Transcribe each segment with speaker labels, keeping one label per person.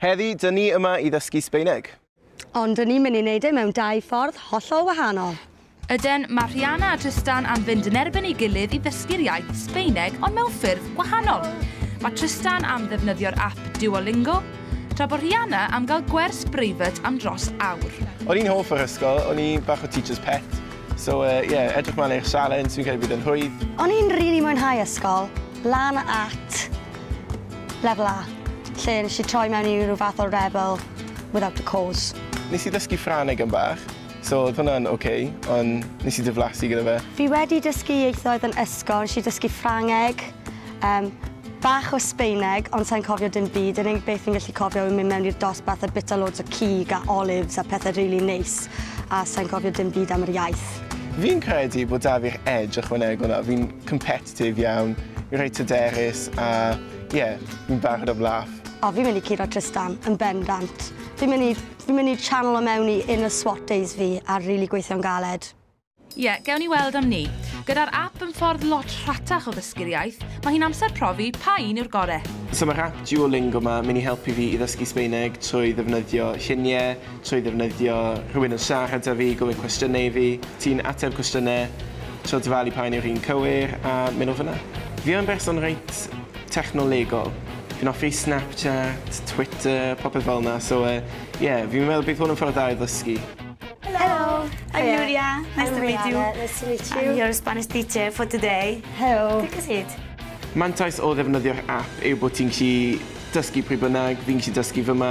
Speaker 1: Heddi, dyn ni yma i ddysgu Sbeineg. Ond dyn ni'n
Speaker 2: mynd i wneud e mewn dau ffordd hollol wahanol. Yden, mae
Speaker 3: Rhiana a Trystan am fynd yn erbyn ei gilydd i ddysgu'r iaith Sbeineg ond mewn ffyrdd wahanol. Mae Trystan am ddefnyddio'r app Duolingo, tra bod Rhiana am gael gwers breifat am dros awr. O'n i'n hoff o'r
Speaker 1: ysgol, o'n i bach o teacher's pet, so uh, yeah, edrych mlaen i'r sialens, fi'n credu bydd yn rhwydd. O'n i'n rili really mwynhau
Speaker 2: ysgol, lan at Level A, lle nes i troi mewn i ryw fath o rebel without a cause. Nes i ddysgu Ffrangeg
Speaker 1: am bach, so odd hwnna'n ok, ond nes i diflasu gyda fe. Fi wedi dysgu
Speaker 2: ieithoedd yn ysgol, nes i dysgu Ffrangeg, yym, bach o Sbaeneg, ond sai'n cofio dim byd, yr unig beth fi'n gallu cofio yw mynd mewn i'r dosbarth a bita loads o cig a olives a pethe rili neis, a sai'n cofio dim byd am yr iaith. Fi'n credu
Speaker 1: bod 'da fi'r edge ychwanegol 'na, fi'n competitive. Positif iawn, reit hyderus a ie, fi'n barod am laff. O, fi'n mynd i curo
Speaker 2: Trystan, yn bendant. Fi'n mynd i... fi'n mynd i channel o mewn i inner swat days fi a rili gweithio'n galed. Ie, gewn ni
Speaker 3: weld am 'ny. Gyda'r app yn ffordd lot rhatach o ddysgu'r iaith, mae hi'n amser profi pa un yw'r gore. So mae'r app
Speaker 1: Duolingo 'ma mynd i helpu fi i ddysgu Sbaeneg trwy ddefnyddio lluniau, Trwy ddefnyddio rhywun yn siarad 'da fi, gofyn cwestiynau i fi, ti'n ateb cwestiynau, so dyfalu pa un yw'r un cywir, a mynd o fan'na. Fi yn berson reit technolegol. Fi'n hoffi Snapchat, Twitter, popeth fel 'na, so yy ie, fi'n meddwl bydd hwn yn ffordd dda i ddysgu. Helo! I'm Nuria, nice to
Speaker 4: meet you. I'm Rhianna, nice to meet you. I'm your
Speaker 2: Spanish teacher
Speaker 4: for today. Helo!
Speaker 2: Take a
Speaker 4: seat. Mantais o
Speaker 1: ddefnyddio'r ap yw bod ti'n gallu dysgu pryd bynnag, fi'n gallu dysgu f'yma,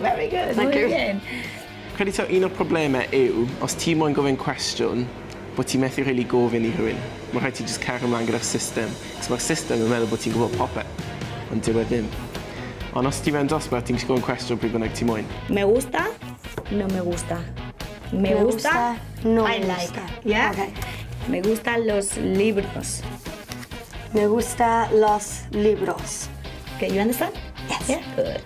Speaker 2: Very
Speaker 4: good. Thank
Speaker 2: you.
Speaker 4: Brilliant. Credu taw un
Speaker 1: o'r problemau yw, os ti moyn gofyn cwestiwn, bod ti methu really gofyn i rhywun. Mae rhaid ti just cario ymlaen gyda'r system, cos mae'r system yn meddwl bod ti'n gwybod popeth, ond dyw e ddim. Ond os ti mewn dosbarth, ti'n gallu gofyn cwestiwn pryd bynnag ti moyn. Me gusta, no me gusta.
Speaker 4: Me, me gusta, gusta, no I me like. Gusta. Yeah? Okay. Me
Speaker 2: gusta
Speaker 4: los libros.
Speaker 2: Me gusta los libros. Okay, you understand?
Speaker 4: Yes. Yeah? Good.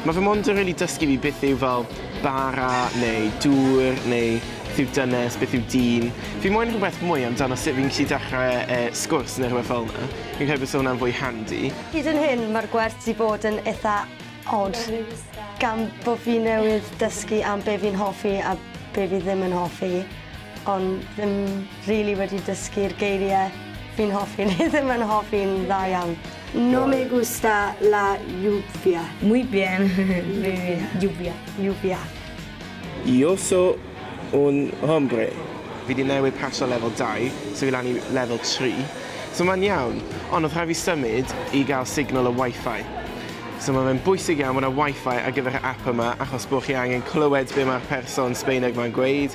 Speaker 4: Mae fy mond yn
Speaker 1: rili dysgu fi beth yw fel bara neu dŵr neu beth yw dynes, beth yw dyn. Fi moyn rhywbeth mwy amdano sut fi'n gallu dechrau yy sgwrs neu rhywbeth fel 'na. Fi'n credu bysa hwnna'n fwy handi. Hyd yn hyn mae'r
Speaker 2: gwers 'di bod yn itha od gan bo' fi newydd dysgu am be' fi'n hoffi a be' fi ddim yn hoffi ond ddim rili wedi dysgu'r geirie fi'n hoffi neu ddim yn hoffi'n dda iawn. No me gusta la lluvia. Muy bien,
Speaker 4: muy bien. Lluvia. Lluvia.
Speaker 2: Yo
Speaker 1: so un hombre. Fi 'di newid paso lefel dau, so fi lan i lefel tri. So mae'n iawn, ond oedd rhaid fi symud i gael signal y Wi-Fi. So mae fe'n bwysig iawn bod 'na Wi-Fi ar gyfer y ap yma achos bod chi angen clywed be mae'r person Sbaeneg 'ma'n gweud.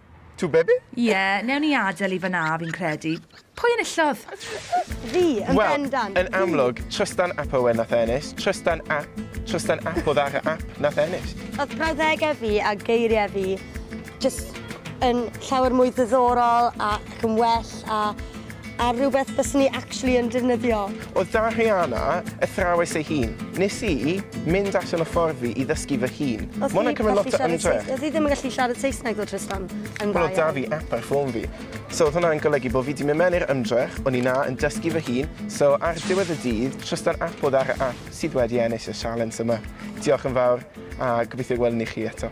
Speaker 1: Two bebe? Ie, newn ni
Speaker 3: adel i fan'na fi'n credu. Pwy enillodd? Fi,
Speaker 2: yn bendant. Wel, yn
Speaker 1: amlwg,
Speaker 2: Trystan
Speaker 1: ap Owen nath ennill. Trystan ap, Trystan ap o Ddara ap nath ennill. Odd brawddege
Speaker 2: fi a geirie fi jyst yn llawer mwy diddorol ac yn well a A rhywbeth byswn i actually yn defnyddio. Oedd 'da Rhiana
Speaker 1: athrawes ei hun. Nes i mynd allan o ffordd fi i ddysgu fy hun. Ma' hwnna'n cymryd lot o ymdrech. Oedd hi ddim yn gallu siarad
Speaker 2: Saesneg ddo Trystan? Yn dda iawn. Wel oedd 'da fi ap ar
Speaker 1: ffôn fi. So oedd hwnna'n golygu bo' fi 'di myn' mewn i'r ymdrech, o'n i 'na yn dysgu fy hun, so ar diwedd y dydd, Trystan ap oedd ar y ap sydd wedi ennill y sialens yma. Diolch yn fawr, a gobeithio gweld un i chi eto.